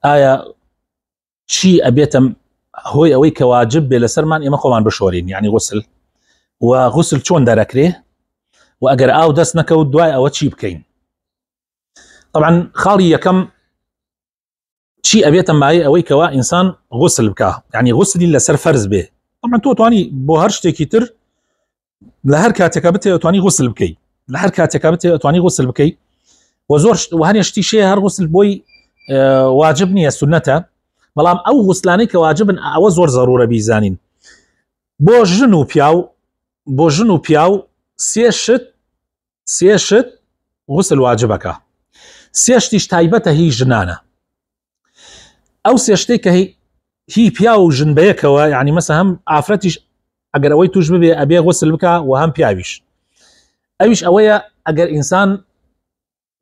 ئایا چی ئەبێتم هۆی ئەوەی کە واجب بێ لەسەرمان ئێمە خۆمان بشۆرین یعنی غسل و غسل چۆن دەرەکرێ و ئەگەر ئاو دەست نەکەوت دوای ئەوە چی بکەین طبعا خاڵی یەکەم چی ئەبێتە مای ئەوەی کەوا ئینسان غسل بکە یعنی غسلی لەسەر فەرز بێ ئەمە تۆ توانی بۆ هەر شتێکی تر لە هەر کاتێکا بتێ ئەتوانی غوسل بکەیت لە هەر کاتێکا بتێ ئەتوانی غوسل بکەیت و زۆر هەنێ شتی شێ هەر غوسل بۆی واجب نییە سنەتە بەڵام ئەو غوسلانەی کە واجبن ئەوە زۆر زەرورە بیزانین بۆ ژن و پیاو بۆ ژن و پیاو سێ شت سێ شت غسل واجبەکە سێ شتیش تایبەتە هی ژنانە ئەو سێ شتێک کە هی پیا و ژن بەیەکەوە یعنی مەسە هەم ئافرەتیش ئەگەر ئەوەی توش ببێ ئەبێ غسل بکە و هەم پیاویش ئەویش ئەوەیە ئەگەر ئینسان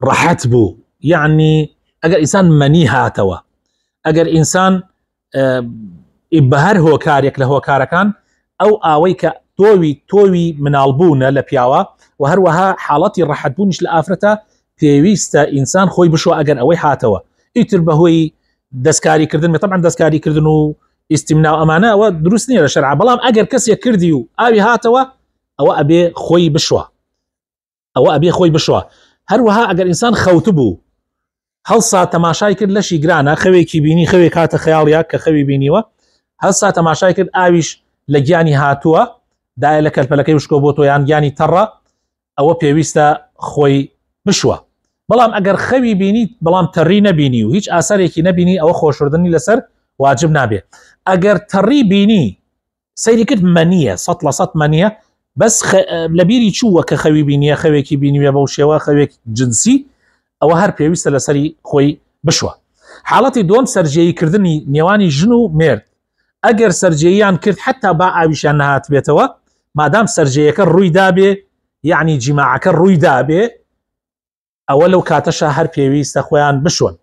ڕەحەت بوو یعنی ئەگەر ئینسان مەنی هاتەوە ئەگەر ئینسان بەهەر هۆکارێک لە هۆکارەکان ئەو ئاوەی کە تۆوی تۆوی مناڵبوونە لە پیاوە و هەروەها حاڵەتی ڕەحەتبوونیش لە ئافرەتە پێویستە ئینسان خۆی بشوە ئەگەر ئەوەی هاتەوە ئیتر بەهۆی دەستکاری کردن طبعا دەستکاری کردن و ئیسیمنا ئەمانە ئەوە دروست نیە لە شەرع بەڵام ئەگەر کەسێک کردی و ئاوی هاتەوە ئەوە ئەبێ خۆی بشوە ئەوە ئەبێ خۆی بشوە هەروەها ئەگەر ئینسان خەوت بوو هەڵسا تەماشای کرد لەشی گرانە خەوێکی بینی خەوێک هاتە خەیاڵیا کە خەوی بینیوە هەسا تەماشای کرد ئاویش لە گیانی هاتووە دای لە کەلپەلەکەی وشکۆ بۆ تۆیان گیانی تەڕە ئەوە پێویستە خۆی بشوە بەڵام ئەگەر خەوی بینیت بەڵام تەڕی نەبینی و هیچ ئاسارێکی نەبینی ئەوە خۆشردنی لەسەر واجب نابێ ئەگەر تەڕی بینی سەیری کرد مەنیە سەد لە سەد مەنیە بەس خ... لە بیری چووە کە خەوی بینیە خەوێکی بینیوێ بەو شێوە خەوێک جنسی ئەوە هەر پێویستە لەسەری خۆی بشوە حاڵەتی دوم سەررجەیی کردنی نێوانی ژن و مرد ئەگەر سەررجەیان کرد حتا با ئاویشان نهات بێتەوە مادام سەررجەیەەکە ڕووی دابێ یعنی جیماعەکە ڕووی دابێ ئەوە لەو کاتەشە هەر پێویستە خۆیان بشۆن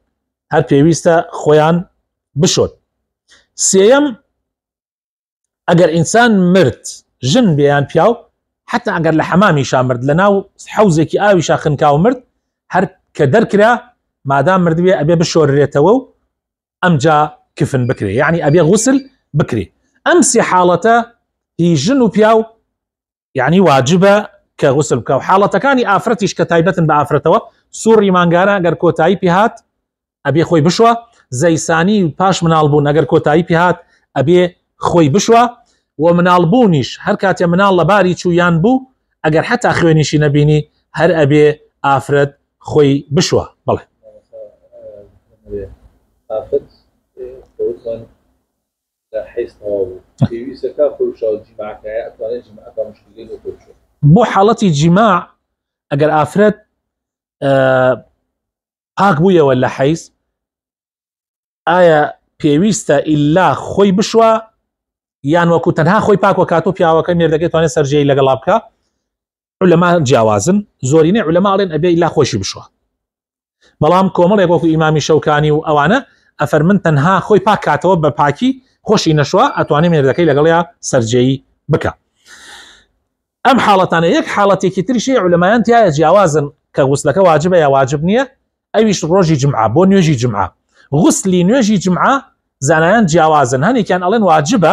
هەر پێویستە خۆیان بشۆن سێەم ئەگەر ئینسان مرد ژن بێیان پیاو حتا ئەگەر لە حەمامیشا مرد لە ناو حوزێکی ئاویشا خنکاو مرد هەر کە دەرکرا مادام مردوێ ئەبێ بشۆررێتەوە و ئەمجا کفن بکرێ یعنی ئەبێ غوسل بکرێ ئەم سێ حاڵەتە هی ژن و پیاو یعنی واجبە کە غسل بکە و حاڵەتەکانی ئافرەتیش کە تایبەتن بە ئافرەتەوە سوڕی مانگانە گەر کۆتایی پێهات ئەبێ خۆی بشوە زەیسانی پاش مناڵ بوون ئەگەر کۆتایی پێهات ئەبێ خۆی بشوە و مناڵ بوونیش هەر کاتێ مناڵ لە باری چوویان بوو ئەگەر حتا خوێنیشی نەبینی هەر ئەبێ ئافرەت خۆی بشوە بڵێ ئافرەت جا حیز تەواو بوو پێویستە کاک خۆی شاو جیماع کایە ئەتوانێت جیماع کا مشکلەی بۆ خۆی بچێت بۆ حاڵەتی جیماع ئەگەر ئافرەت پاک بوویەوە لە حیز ئایا پێویستە ئللا خۆی بشوە یان وەکو تەنها خۆی پاکوە کاتۆ پیاوەکە مێردەکەی توانێت سەررجەی لەگەڵا بکە علەما جیاوازن زۆرینەی علەما ئەڵێن ئەبێ لا خۆشی بشوە بەڵام کۆمەڵێک وەکو ئیمامی شەوکانی و ئەوانە ئەفەر من تەنها خۆی پاکاتەوە بە پاکی خۆشی نەشوە ئەتوانێ مێردەکەی لەگەڵیا سەررجەیی بکە ئەم حاڵەتانە یەک حاڵەتێکی تریشی علەمایان تایە جیاوازن کە غوسلەکە واجبە یا واجب نییە ئەویش ڕۆژی جمعە بۆ نوێژی جمعە غوسلی نوێژی جمعە زانایان جیاوازن هەنێکیان ئەڵێن واجبە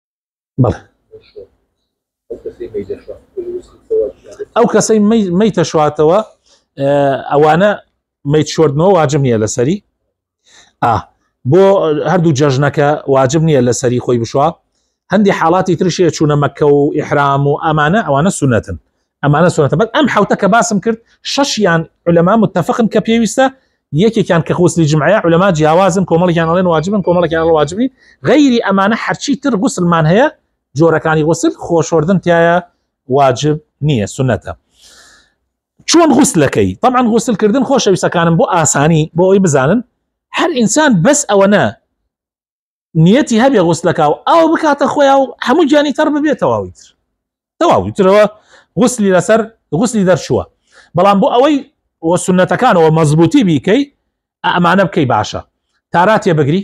ئەو کەسەی مەی تەشواتەوە ئەوانە مەیت شردنەوە واجب نییە لەسەری ئا بۆ هەردوو جەژنەکە واجب نییە لەسەری خۆی بشوە هەندی حاڵاتی ترشێ چوونە مەکە و ئحرام و ئەمانە ئەوانە سونەتن ئەمانە سونەتە بەس ئەم حوتە کە باسم کرد شەشیان علەما متفقن کە پێویستە یەکێکیان کە غوسلی جمعە علەما جیاوازن کۆمەڵیان ئەڵێن واجبن کۆمەڵێکیان واجبی غیری ئەمانە هەرچی تر غوسلمان هەیە جۆرەکانی غوسل خۆشۆردن تایە واجب نییە سونەتە چۆن غوسلەکەی طبعاان غوسلکردن خۆشەویستەکانم بۆ ئاسانی بۆ ئەوی بزانن هەر ئینسان بەس ئەوەنە نیەتی هەبێ غوسلەکە و ئاو بکاتە خۆیا و هەموو گیانی تەڕ ببێتەواوی تر تەواوی ترەوە غوسلی لەسەر غوسلی دەرچووە بەڵام بۆ ئەوەی وە سنەتەکانەوە مەزبوتی بیکەی ئەمانە بکەی باشە تاراتێ بگری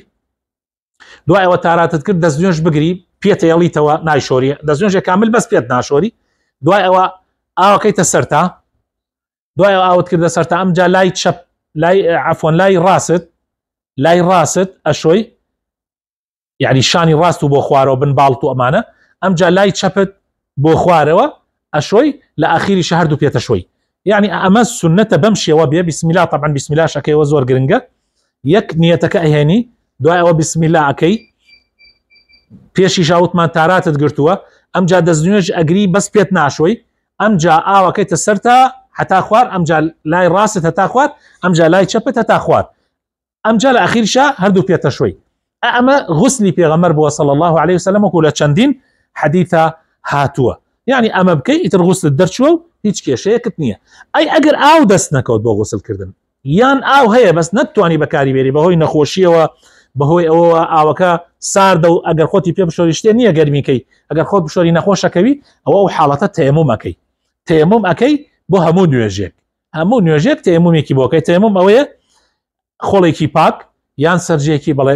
دوایەوە تاراتت کرد دەست نوێش بگری پێتەیەڵیتەوە نایشۆری دەست نوێژێک کامل بەس پێت ناشۆری دوای ئەوە ئاوەکەیتە سەرتا دوای ئاوت کردە سەر تا ئەمجا لای چەپ لای عفۆن لای ڕاست لای ڕاست ئەشۆی یعنی شانی ڕاست و بۆ خوارەوە بن باڵت و ئەمانە ئەمجا لای چەپت بۆ خوارەوە ئەشۆی لە ئاخیری شەهر دوو پێتە شوی یعنی ئەمە سنەتە بەم شێوە بێ بسمیلا طبعا بسمیلا شەکەیەوە زۆر گرنگە یەک نیەتەکە ئەهێنی دوای ئەوە بسمیلا ئەەکەی پێشی ژاوتمان تاراتت گرتووە ئەمجا دەستنوێژ ئەگری بەس پێت ناشۆی ئەمجا ئاوەکەیتە سەرتا هەتا خوار ئەمجا لای ڕاستت هەتا خوات ئەمجا لای چەپت هەتا خوات ئەمجا لە ئەخیرشا هەردوو پێتە شوی ئەمە غسلی پێغەمەر بووە صلى الله عليه وسلم وەکو لە چەندین حەدیثە هاتووە یعنی ئەمە بکەی ئیتر غسلت دەرچوە و هیچ کێشەیەکت نییە ئەی ئەگەر ئاو دەست نەکەوت بۆ غسلکردن یان ئاو هەیە بەس نەتتوانی بەکاری بێری بەهۆی نەخۆشیەوە بەهۆی ئەوەوە ئاوەکە ساردە و ئەگەر خۆتی پێ بشۆری شتێ نییە گەرمیکەی ئەگەر خۆت بشۆری نەخۆشەکەوی ئەوە ئەو حاڵەتە تەیەمومەکەی تەیەموم ئەەکەی بۆ هەموو نوێژێک هەموو نوێژێک تەیەمومێکی بۆکەی تەیەموم ئەوەیە خۆڵێکی پاک یان سەرجێکی بڵێ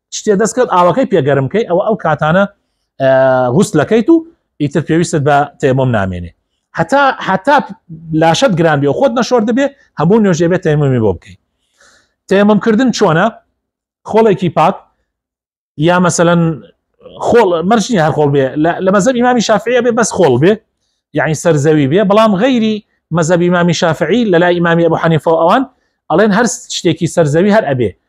شتێ دەست کرد ئاوەکەی پێگەرم کەی ئەوە ئەو کاتانە غوسلەکەیت و ئیتر پێویستت بە تێمۆم نامێنێ هەتا هەتا لاشت گران بێ خۆت نەشۆر دەبێ هەموو نوێژێ بێت تێمەمی بۆ بکەیت تێمەم کردن چۆنە خۆڵێکی پاک یا مەسەەن خۆڵ مەرجنی هەر خۆڵ بێ لە مەزەب ئیمامی شافعە بێ بەس خۆڵ بێ یعنی سەرزەوی بێ بەڵام غەیری مەزەبی مامی شافعی لە لای ئیمامی ئەبوو حەنیفە ئەوان ئەڵێن هەر شتێکی سەرزەوی هەر ئەبێ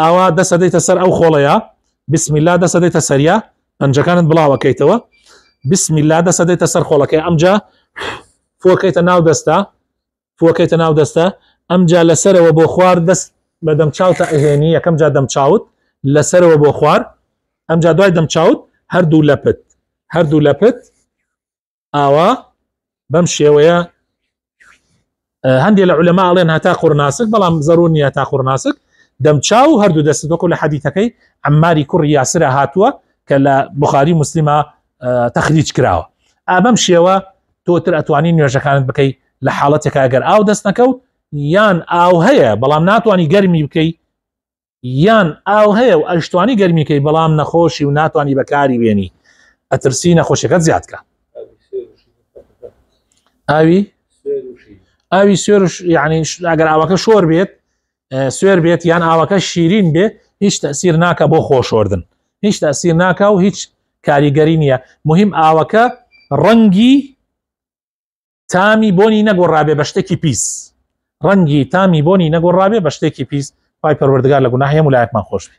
ئاوا دەست ئەدەیتە سەر ئەو خۆڵەیە بسم الله دەست ئەدەیتە سەریا پەنجەکانت بڵاوەکەیتەوە بسم الله دەست ئەدەیتە سەر خۆڵەکەی ئەمجا فۆکەیتە ناو دەستە فۆکەیتە ناو دەستە ئەمجا لەسەرەوە بۆ خوار دەست بە دەم چاوتە ئەهێنی یەکەم جا دەم چاوت لەسەرەوە بۆ خوار ئەمجا دوای دەم چاوت هەردوو لەپت هەردوو لەپت ئاوا بەم شێوەیە هەندێ لە علەما ئەڵێن هەتا قڕناسک بەڵام زەرور نیە تا قڕناسک دەمچاو هەردوو دەست بەکو لە حەدیتەکەی ئەماری کوڕی یاسرە هاتووە کە لە بخاری مسلمە تەخلیج کراوە ئابەم شێوە تۆتر ئەتوانی نوێژەکانت بکەیت لە حاڵەتێکا گەر ئاو دەست نەکەوت یان ئاو هەیە بەڵام ناتوانانی گەرمی بکەیت یان ئاو هەیە و ئەشتوانی گەرمیکەی بەڵام نەخۆشی و ناتوانانی بەکاری بێنی ئەترسی نەخۆشیەکەت زیادکە ئاوی ئاوی سوێرش یعنی ئەگەر ئاوەکە شۆر بێت سوێر بێت یان ئاوەکە شیرین بێ هیچ تەسیر ناکە بۆ خۆشۆردن هیچ تەسیر ناکە و هیچ کاریگەری نییە مهم ئاوەکە ڕەنگی تامی بۆنی نەگۆڕابێ بە شتێکی پیس ڕەنگی تامی بۆنی نەگۆڕابێ بە شتێکی پیس پای پەروەردگار لە گوناهەیە ولایەکمان خۆشبی